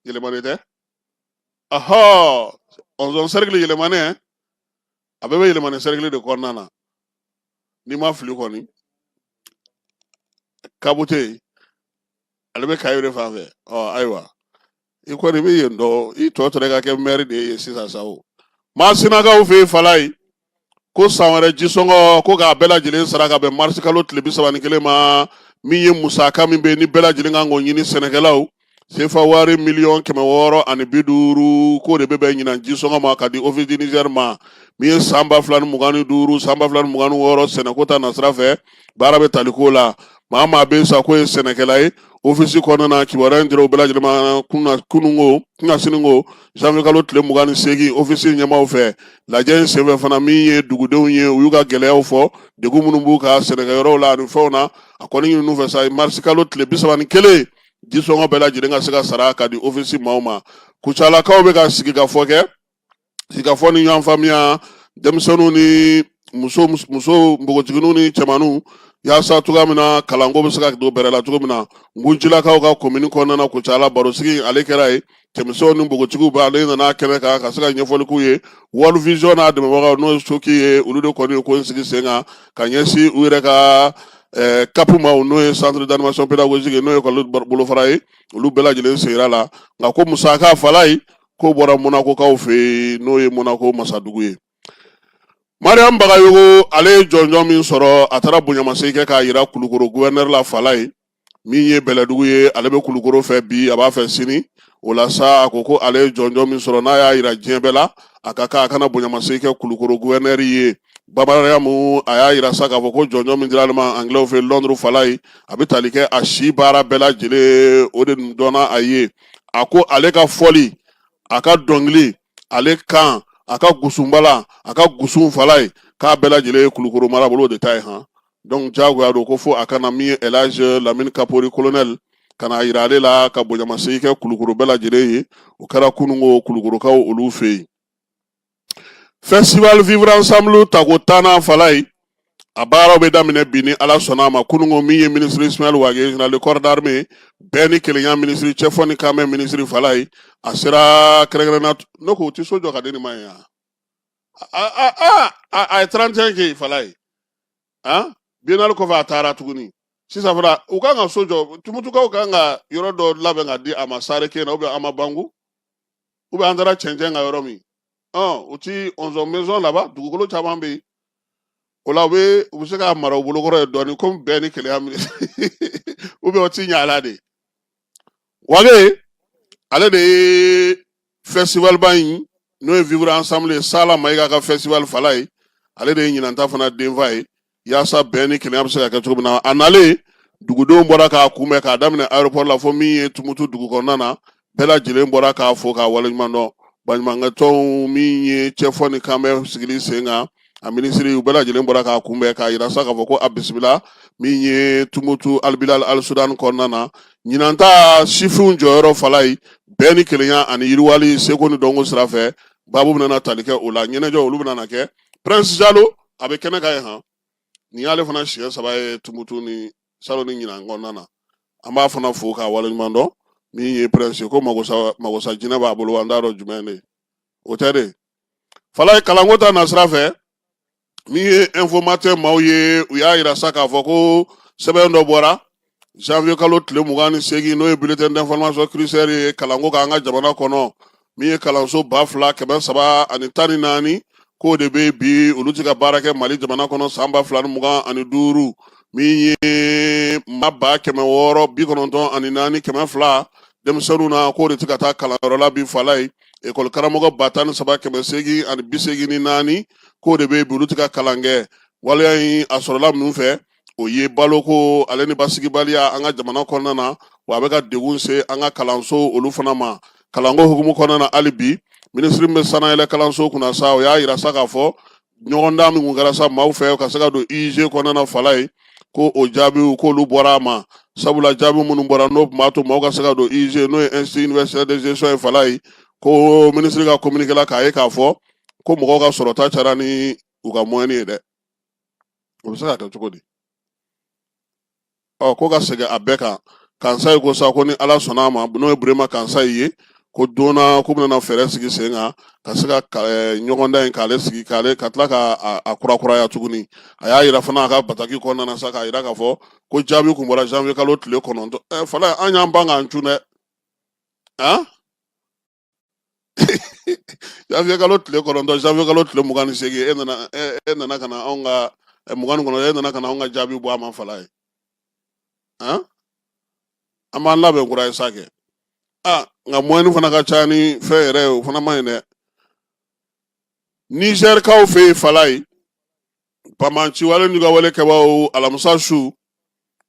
yɛlɛmani tɛ ahɔ ɔnzɔn sɛrikili yɛlɛmani a bɛɛ bɛ yɛlɛmani sɛrikili de kɔnɔna na ni n ma fili kɔni kabu tɛ yen ale bɛ kayi de fan fɛ ɔ ayiwa i kɔni i bɛ yen dɔn i tɔ tora ka kɛ mɛri de ye sisan sa o masinakaw fɛ yen falaye ko san wɛrɛ jisɔngɔ ko k'a bɛɛ lajɛlen sara ka bɛn marisi kalo tile bi saba ni kelen ma min ye musaka min bɛ nin bɛɛ lajɛlen kan k'o ɲini sɛnɛkɛlaw sefa wari miliyɔn kɛmɛ wɔɔrɔ ani bi duuru k'o de bɛ bɛn ɲinan jisɔngɔ ma ka di office du niger ma min ye san ba fila ni mugan ni duuru san ba fila ni mugan ni wɔɔrɔ sɛnɛko ta nasira fɛ baara bɛ tali k'o la maa maa bɛ sa k'o ye sɛnɛkɛla ye ofisi kɔnɔna na kibaruya in dira u bɛɛ lajɛlen ma kununko kunasiniko zanwiye kalo tile mugan ni seegin ofisi ɲɛmaaw fɛ lajɛ in senfɛ fana min ye dugudenw ye u y'u ka gɛlɛyaw fɔ degun minnu b'u ka sɛnɛkɛyɔrɔw la ani fɛnw na a kɔni ɲinin'u fɛ sa marisi kalo tile bi saba ni kelen jisɔngɔ bɛɛ lajɛlen ka se ka sara ka di ofisi maaw ma kucalakaw bɛ ka sigikafɔ kɛ sigikafɔ ni ɲɔgɔn faamuya denmisɛnninw ni muso npogotigininw ni cɛmanninw yaasa cogoya min na kalanko bɛ se ka don bɛrɛ la cogo min na nkuncilakaw ka komini kɔnɔna na kucala barosigi ale kɛra ye cɛmisɛnw ni npogotigiw bɛ ale nana kɛnɛ kan ka se ka ɲɛfɔli k'u ye world vision n'a dɛmɛbagaw n'o ye soki ye olu de kɔni ye ko in sigi sen kan ka ɲɛsin u yɛrɛ ka Eh, kapu ma n'o ye centre d'animation pédagogique n'o ye ekɔli bolofara ye olu bɛɛ lajɛlen sigira la nka k'o musaka falaye k'o bɔra monakokaw fɛ yen n'o ye monako masadugu ye mariam bagayogo ale ye jɔnjɔn min sɔrɔ a taara bonyamasegin kɛ k'a yira kulukoro guvɛnɛri la falaye min ye bɛlɛdugu ye ale bɛ kulukoro fɛ bi a b'a fɛ sini o la sa a ko ko ale ye jɔnjɔn min sɔrɔ n'a y'a yira diɲɛ bɛɛ la a ka kan a ka na bonyamasegin kɛ kulukoro guvɛnɛri ye ba mariyamu a y'a yira sa k'a fɔ ko jɔnjɔn min dira ale ma angilɛw fɛ lɔnduru falaye a bɛ tali kɛ a si baara bɛɛ lajɛlen o de dɔnna a ye a ko ale ka fɔli a ka dɔnkili ale kan a ka gusunbala a ka gusun falaye k'a bɛɛ lajɛlen ye kulukoro marabolo de ta ye han donc diyagoya don ko fo a ka na min ye elaji lamini kapori colonel ka n'a yira ale la ka bonyamasegin kɛ kulukoro bɛɛ lajɛlen ye o kɛra kununko kulukorokaw olu fɛ yen Festival Vivre Ensemble tako tannan fala in a baaraw bɛ daminɛ bi ni Ala sɔnna a ma kunungo min ye minisiri Ismaël Wage général de corps d'armée bɛn ni kelenya minisiri cɛfɔ ni kanbɛn minisiri fala ye a sera kɛrɛnkɛrɛnna ne ko u tɛ so jɔ ka di nin ma yen yan a a a a a ye 31 kɛ yen fala ye han biennale kɔfɛ a taara tuguni sisan fana u kan ka so jɔ tumutukaw kan ka yɔrɔ dɔ labɛn ka di a ma Sarekɛyina ou bien Hamabangu ou bien an taara cɛncɛn kan yɔrɔ min u ti onze maisons laban dugukolo caman bɛ yen o la u bɛ u bɛ se k'a mara u bolokɔrɔ ye dɔɔnin komi bɛn ni kelenya minisiri u bɛ o ti ɲɛ ala de Wage ale de ye festival ba in n'o ye vivre ensemble ye sala mayiga ka festival fala ye ale de ye ɲinanta fana denfa ye yaasa bɛn ni kelenya bɛ se ka kɛ cogo min na a nalen dugudenw bɔra k'a kunbɛn k'a daminɛ aéroport la fo min ye tumutu dugu kɔnɔna na bɛɛ lajɛlen bɔra k'a fo k'a waleɲuman dɔn baɲumankɛtɔnw min ye cɛfɔ ni kanbɛn sigili sen kan a minisiri u bɛɛ lajɛlen bɔra k'a kunbɛn k'a yira sa k'a fɔ ko a bisimila min ye tumutu alibilal alisudan kɔnɔna na ɲinanta sifinw jɔyɔrɔ fala ye bɛn ni kelenya ani yiriwali seko ni dɔnko sira fɛ babu bɛna tali kɛ o la ɲɛnajɛ olu bɛna kɛ prince jalo a bɛ kɛnɛ kan yen han nin y'ale fana siɲɛ saba ye tumutu ni salon ni ɲinan kɔnɔna na an b'a fana fo k'a waleɲuman dɔn min ye prince ko magosa magosa jinɛ b'a bolo an t'a dɔn jumɛn de o tɛ de fala ye kalanko ta nasira fɛ min ye informateur maaw ye u y'a yira sa k'a fɔ ko sɛbɛn dɔ bɔra Janvier kalo tile mugan ni seegin n'o ye bulletin d'information cluster ye kalanko kan an ka jamana kɔnɔ min ye kalanso ba fila kɛmɛ saba ani tan ni naani k'o de bɛ bi olu tɛ ka baara kɛ mali jamana kɔnɔ san ba fila ni mugan ani duuru min ye maa ba kɛmɛ wɔɔrɔ bi kɔnɔntɔn ani naani kɛmɛ fila denmisɛnninw na k'o de tɛ ka taa kalanyɔrɔ la bi fala ye ekɔli karamɔgɔ ba tan ni saba kɛmɛ seegin ani bi seegin ni naani k'o de bɛ bi olu tɛ ka kalan kɛ waleya in a sɔrɔla minnu fɛ o ye baloko ale ni basigibaliya an ka jamana kɔnɔna na wa a bɛ ka degun se an ka kalanso olu fana ma kalanko hukumu kɔnɔna na hali bi minisiri min bɛ sanayɛlɛ kalanso kunna sa o y'a yira sa k'a fɔ ɲɔgɔndan min kun kɛra sa maaw fɛ ka se ka don IUG kɔnɔna fala ye ko o jaabiw k'olu bɔra a ma sabula jaabi minnu bɔra n'o tun b'a to maaw ka se ka don IUG n'o ye institut universitaire de gestion ye fala ye ko minisiri ka communiqué la k'a ye k'a fɔ ko mɔgɔw ka sɔrɔta cayara ni u ka mɔni ye dɛ o bɛ se ka kɛ cogo di ɔ ko ka segin a bɛɛ kan Kansaye ko sa ko ni ala sɔnna a ma n'o ye Burema Kansaye ye ko donna k'u bɛna fɛɛrɛ sigi sen kan ka se ka eh, ɲɔgɔndan in k'ale sigi k'ale ka tila ka a kurakuraya tuguni a y'a yira fana a ka bataki kɔnɔna na sa k'a yira k'a fɔ ko jaabi kun bɔra janvier kalo tile kɔnɔntɔn ɛ eh, fana an y'an ban k'an cun dɛ an janvier kalo tile kɔnɔntɔn janvier kalo tile mugan ni seegin e nana e nana ka na anw ka mugan ni kɔnɔntɔn e nana ka na anw ka jaabi bɔ a ma fala ye an an b'an labɛn kura ye sa kɛ a nka mɔni fana ka ca ni fɛn yɛrɛ ye o fana man ɲi dɛ nizɛrikaw fɛ yen fala ye banbaanci wale n'u ka wale kɛbaaw alamisa su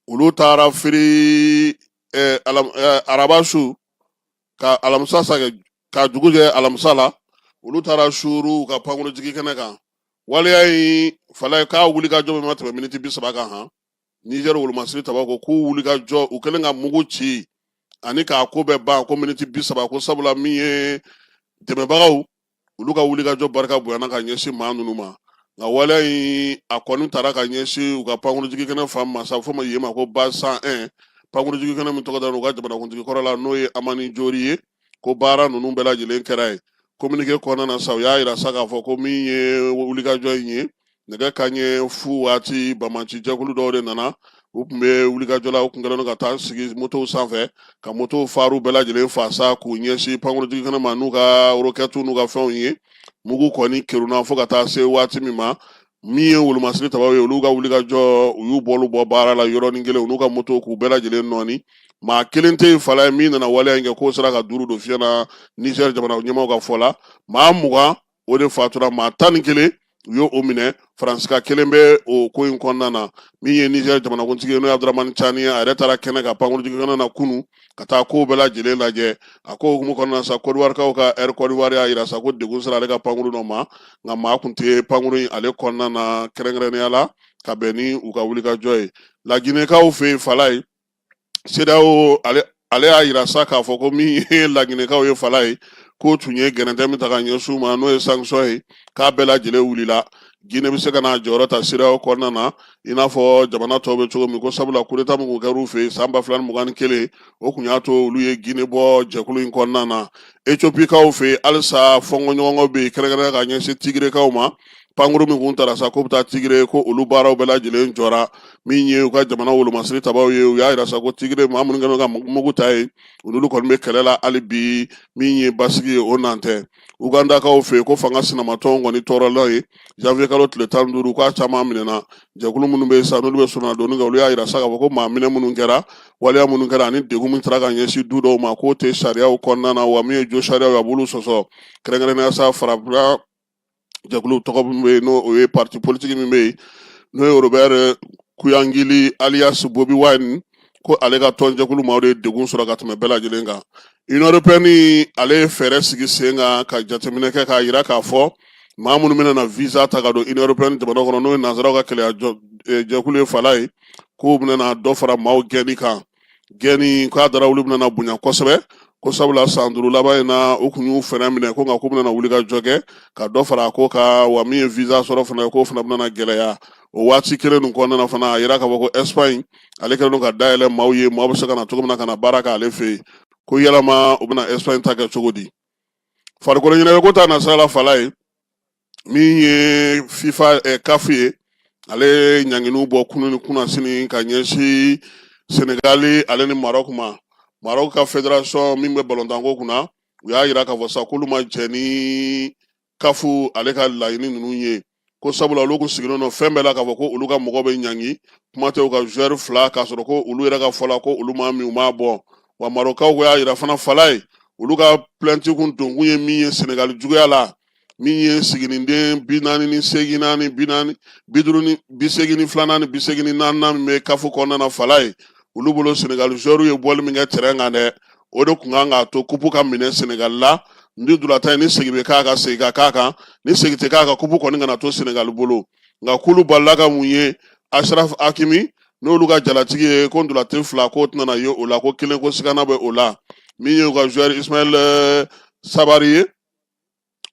olu taara firi araba su ka alamisa sa ka dugu jɛ alamisa la olu taara suuru u ka pankurujigi kɛnɛ kan waleya in fala ye k'a wulikajɔ bɛɛ ma tɛmɛ miniti bi saba kan han nizɛri wolomasiri taba ko k'u wulikajɔ u kɛlen ka mugu ci ani k'a ko bɛɛ ban ko miniti bi saba ko sabula min ye dɛmɛbagaw olu ka wulikajɔ barika bonyana ka ɲɛsin maa ninnu ma nka waleya in a kɔni taara ka ɲɛsin u ka pankurujigi kɛnɛ fan ma sa fo ma yen ma ko base cent un pankurujigi kɛnɛ min tɔgɔ dara u ka jamanakuntigi kɔrɔ la n'o ye amani jori ye ko baara ninnu bɛɛ lajɛlen kɛra yen kominike kɔnɔna na sa u y'a yira sa k'a fɔ ko min ye wulikajɔ in ye nɛgɛ kanɲɛ fu waati banbaanci jɛkulu dɔw de nana u tun bɛ wulikajɔ la u tun kɛlen ka taa sigi motow sanfɛ ka motow faru bɛɛ lajɛlen faa sa k'u ɲɛsin pankurujigi kɛnɛ ma n'u ka orokɛtu n'u ka fɛnw ye mugu kɔni kerunna fo ka taa se waati min ma min ye wolomasiri tabaw ye olu ka wulikajɔ u y'u bolo bɔ baara la yɔrɔnin kelen u n'u ka moto k'u bɛɛ lajɛlen nɔɔni maa kelen tɛ yen fala ye min nana waleya in kɛ k'o sera ka duuru don fiɲɛ na nizɛri jamana ɲɛmaaw ka fɔ la maa mugan o de fatura maa tan ni kelen u y'o minɛ faransika kelen bɛ o ko in kɔnɔna na min ye nizɛri jamanakuntigi ye n'o ye abduramani cani ye a yɛrɛ taara kɛnɛ kan pankurujigi kɛnɛ na kunun ka taa kow bɛɛ lajɛlen lajɛ a ko hukumu kɔnɔna sa kɔdiwarikaw ka ɛri kɔdiwari y'a yira sa ko degun sera ale ka pankuru dɔ ma nka maa kun tɛ pankuru in ale kɔnɔna na kɛrɛnkɛrɛnnenya la ka bɛn ni u ka wulikajɔ ye laginɛkaw fɛ yen fala ye CEDEAO ale y'a yira sa k'a fɔ ko min ye laginɛkaw ye fala ye k'o tun ye gɛrɛntɛ min ta ka ɲɛsin u ma n'o ye sanction ye k'a bɛɛ lajɛlen wulila Guinée bɛ se ka n'a jɔyɔrɔ ta CEDEAO kɔnɔna na i n'a fɔ jamana tɔw bɛ cogo min ko sabula coup d'Etat min kun kɛra u fɛ yen san ba fila ni mugan ni kelen o kun y'a to olu ye Guinée bɔ jɛkulu in kɔnɔna na Etiopikaw fɛ yen halisa fɔnkɔɲɔgɔnkɔ bɛ yen kɛrɛnkɛrɛnnenya ka ɲɛsin Tigrekaw ma pankuru min kun taara sa k'o bɛ taa tigre ko olu baaraw bɛɛ lajɛlen jɔra min ye u ka jamana wolomasiri tabaw ye u y'a yira sa ko tigre maa minnu kɛlen ka mugu ta ye olu kɔni bɛ kɛlɛ la hali bi min ye basigi ye o nan tɛ ugandakaw fɛ yen ko fanga sinamatɔnw kɔni tɔɔrɔla yen janvier kalo tile tan ni duuru k'a caman minɛna jɛkulu minnu bɛ yen sa n'olu bɛ sɔnna donni kɛ olu y'a yira sa k'a fɔ ko maa minɛ minnu kɛra waleya minnu kɛra ani degun min taara ka ɲɛsin du dɔw ma k'o tɛ sariyaw kɔnɔna na wa min ye jo sariyaw ye a b'olu sɔsɔ kɛrɛnkɛrɛnnenya sa farafina jɛkulu tɔgɔ min bɛ yen n'o ye parti politique min bɛ yen n'o ye Robert eh, Kuyangili alias Bobi Wine ko ale ka tɔn jɛkulu maaw de ye degun sɔrɔ ka tɛmɛ bɛɛ lajɛlen kan Union européenne ale ye fɛɛrɛ sigi sen kan ka jateminɛ kɛ k'a yira k'a fɔ maa minnu bɛna na visa ta ka don Union européenne jamana kɔnɔ n'o ye nanzaraw ka kelenya jɔ- eh, jɛkulu ye Falaye k'u bɛna na dɔ fara maaw gɛnni kan gɛnni k'a dara olu bɛna na bonya kosɛbɛ ko sabula san duuru laban in na u kun y'u frein minɛ ko nka k'u bɛna na wulikajɔ kɛ ka dɔ fara a ko kan wa min ye visa sɔrɔ fana k'o fana bɛna na gɛlɛya o waati kelen nin kɔnɔna na fana a yira k'a fɔ ko Espagne ale kɛlen don ka dayɛlɛ maaw ye maaw bɛ se ka na cogo min na ka na baara k'ale fɛ yen ko yalama u bɛna Espagne ta kɛ cogo di farikolo ɲɛnajɛko ta nasira la Falaye min ye FIFA eh, CAF ye ale ye ɲanginiw bɔ kunu ni kunasini ka ɲɛsin senegali ale ni marɔk ma marɔk ka fédération min bɛ balontanko kunna u y'a yira k'a fɔ sa k'olu ma jɛn ni CAF ale ka laɲini ninnu ye ko sabula olu kun sigilen don fɛn bɛɛ la k'a fɔ ko olu ka mɔgɔ bɛ ɲangi kuma tɛ u ka joueur fila k'a sɔrɔ ko olu yɛrɛ ka fɔ la ko olu ma min u m'a bɔ wa marɔkaw ko y'a yira fana Falaye olu ka plainte kun donkun ye min ye senegali juguya la min ye siginiden bi naani ni segin naani bi naani bi duuru ni bi segin ni fila ani bi segin ni naani min bɛ CAF kɔnɔna na Falaye olu bolo senegali joueurw ye bɔli min kɛ tɛrɛn kan dɛ o de kun kan k'a to kupu ka minɛ senegali la ni ntolatan ye ni segin bɛ k'a kan segin ka k'a kan ni segin tɛ k'a kan kupu kɔni kana to senegali bolo nka k'olu balila ka mun ye Achraf Hakimi n'olu ka jalatigi ye ko ntolatan fila k'o tɛna na ye o la ko kelen ko sigana bɛ o la min ye u ka joueur Ismaël eh, Saibari ye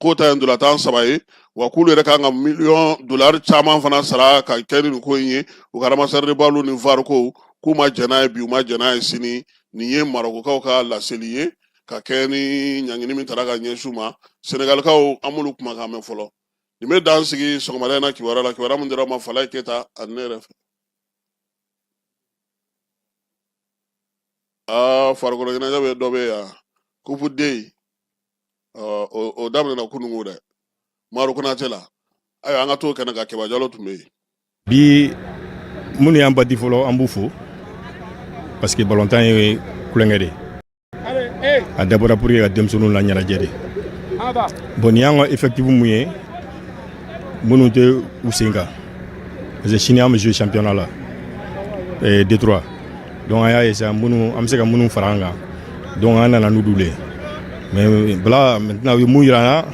k'o ta ye ntolatan saba ye wa k'olu yɛrɛ kan ka miliyɔn dolari caman fana sara ka kɛ ni nin ko in ye u ka ramasseur de balle ni VAR ko k'u ma jɛn n'a ye bi u ma jɛn n'a ye sini nin ye marokokaw ka laseli ye ka kɛ ni ɲangini min tara ka ɲɛsin u ma senegalikaw an m'olu kumakan mɛn fɔlɔ nin bɛ dan sigi sɔgɔmada in na kibaruya la kibaruya min dira ma Falaye Keyita ani ne yɛrɛ fɛ aa farikolo ɲɛnajɛ bɛ dɔ bɛ yan kupu den o daminɛna kununko dɛ Maro Konatɛ la ayiwa an ka t'o kɛnɛ kan Kɛba Jalo tun bɛ yen bi minnu y'an bati fɔlɔ an b'u fo parce que balontan ye tulonkɛ de a dabɔra pour que ka denmisɛnninw la ɲɛnajɛ de bon nin y'an ka effectif mun ye minnu tɛ u sen kan parce que sini an bɛ jouer championnat la eh, D trois donc an y'a ye sisan minnu an bɛ se ka minnu fara an kan donc an nana n'olu le mais voilà maintenant u ye mun yira an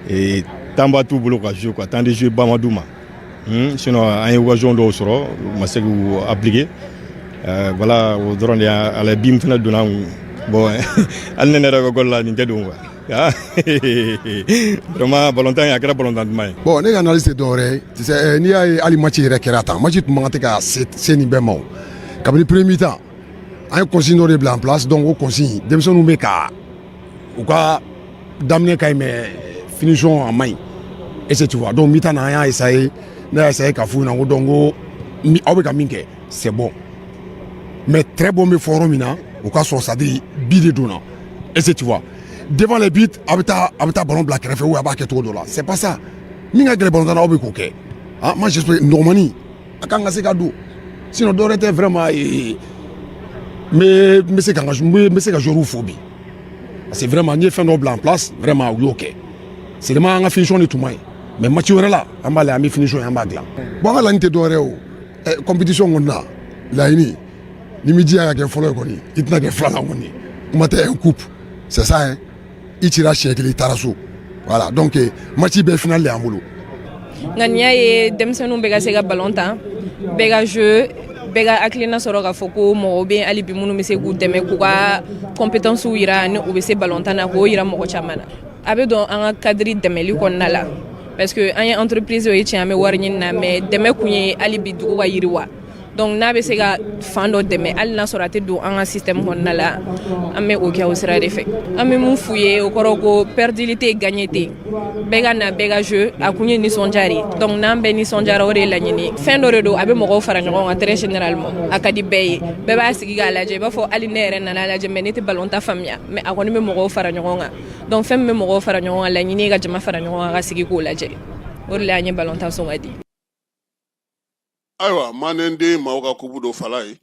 na temps ba t'u bolo ka jouer quoi temps de jouer ba ma d'u ma hmm, sinon an ye occasion dɔw sɔrɔ u ma se k'u appliquer euh, voilà o dɔrɔn de b'a la bi min fana donna an kun bon hali ne yɛrɛ ka gɔli la nin tɛ don quoi vraiment balontan in a kɛra balontan duman ye bon ne ka analyse tɛ dɔwɛrɛ ye tu sais eh, n'i y'a ye hali match yɛrɛ kɛra tan match tun man kan tɛ ka se nin bɛɛ ma o kabini premier mi-temps an ye consigne dɔ de bila en place donc o consigne denmisɛnninw bɛ ka u ka daminɛ ka ɲi mais finition a man ɲi est-ce que tu vois donc mi-temps na an y'a essayer ne y'a essayer ka f'u ɲɛna ko donc ko mi- aw bɛ ka min kɛ c'est bon mais très bon bɛ fɔ yɔrɔ min na o ka sɔrɔ c'est-à-dire bi de donna est-ce que tu vois devant les buts a bɛ taa a bɛ taa ballon bila kɛrɛfɛ ou a b'a kɛ cogo dɔ la c'est pas ça min ka gɛlɛn balontan na aw bɛ k'o kɛ ah moi j'espère normalement a kan ka se ka don sinon dɔwɛrɛ tɛ vraiment ee n bɛ n bɛ se ka n ka n bɛ n bɛ se ka joueurs fo bi parce que vraiment n ye fɛn dɔ bila en place vraiment u y'o kɛ seulement an ka finition de tun man ɲi mais match wɛrɛ la an b'a lajɛ an bɛ finition ye an b'a dilan bon an ka laɲini tɛ dɔwɛrɛ ye o compétition kɔnɔna laɲini n'i m'i jija ka kɛ fɔlɔ ye kɔni i tɛna kɛ filanan kɔni kuma tɛ un coupe c'est ça hein i cira siɲɛ kelen i taara so voilà donc eh, match bɛɛ final de y'an bolo ŋaniya ye denmisɛnninw bɛɛ ka se ka balon tan bɛɛ ka jeu bɛɛ ka hakilina sɔrɔ k'a fɔ ko mɔgɔw bɛ hali bi minnu bɛ se k'u dɛmɛ k'u ka compétences yira ni u bɛ se balon tan na k'o yira mɔgɔ caman na a bɛ don an ka cadre dɛmɛli kɔnɔna la parce que an ye entreprise ye tiɲɛ an bɛ wari ɲini na mais dɛmɛ kun ye hali bi dugu ka yiriwa donc n'a bɛ se ka fan dɔ dɛmɛ hali n'a sɔrɔ a tɛ don an ka système kɔnɔna la an bɛ o kɛ o sira de fɛ an bɛ mun f'u ye o kɔrɔ ko perdili tɛ gagné tɛ bɛɛ ka na bɛɛ ka jeu a kun ye nisɔndiya de ye donc n'an bɛɛ nisɔndiyara o de ye laɲini fɛn dɔ de don a bɛ mɔgɔw fara ɲɔgɔn kan très généralement a ka di bɛɛ ye bɛɛ b'a sigi k'a lajɛ i b'a fɔ hali ne yɛrɛ nana lajɛ mais ne tɛ ballon tan faamuya mais a kɔni bɛ mɔgɔw fara ɲɔgɔn kan donc fɛn min bɛ mɔgɔw fara ɲɔgɔn kan laɲini ye ka jama fara ɲɔgɔn kan ka sigi k'o lajɛ o de la an ye ballon tan sugandi ayiwa manden den maaw ka kupu don Falaye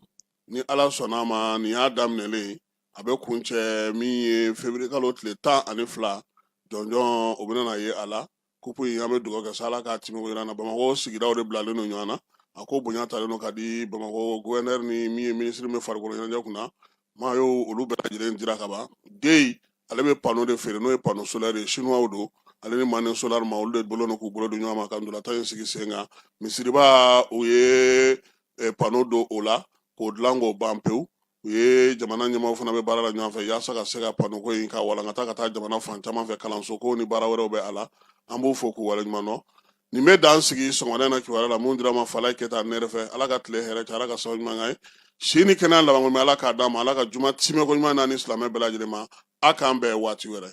ni ala sɔnna ma nin y'a daminɛlen a bɛ kuncɛ min ye février kalo tile tan ani fila jɔnjɔn o bɛna ye a la kupu in an bɛ dugawu kɛ sa ala k'a timɛko jira an na bamakɔ sigidaw de bilalen don ɲɔgɔn na a ko bonya talen don ka di bamakɔ gouverneur ni min ye minisiri bɛ farikolo ɲɛnajɛ kunna ma a y' olu bɛɛ lajɛlen jira ka ban den ale bɛ panneau de feere n'o ye panneau solaire ye chinois don ale ni Mane Solar ma olu de bolo k'u bolo don ɲɔgɔn ma ka ntolatan in sigi sen kan misiriba u ye eh, panneau don o la k'o dilan k'o ban pewu u ye jamana ɲɛmaw fana bɛ baara la ɲɔgɔn fɛ yaasa ka se ka panneau ko in ka walankata ka taa jamana fan caman fɛ kalanso ko ni baara wɛrɛw bɛ a la an b'u fo k'u waleɲuman dɔn nin bɛ dan sigi sɔgɔmada na kibaruya la min dira aw ma Falaye Keyita ne yɛrɛ fɛ ala ka tile hɛrɛ cɛ ala ka sababu ɲuman ye si ni kɛnɛya labanko mɛ ala k'a d'a ma ala ka juma timɛko ɲuman na an ni silamɛ bɛɛ lajɛlen ma a k'an bɛn waati wɛrɛ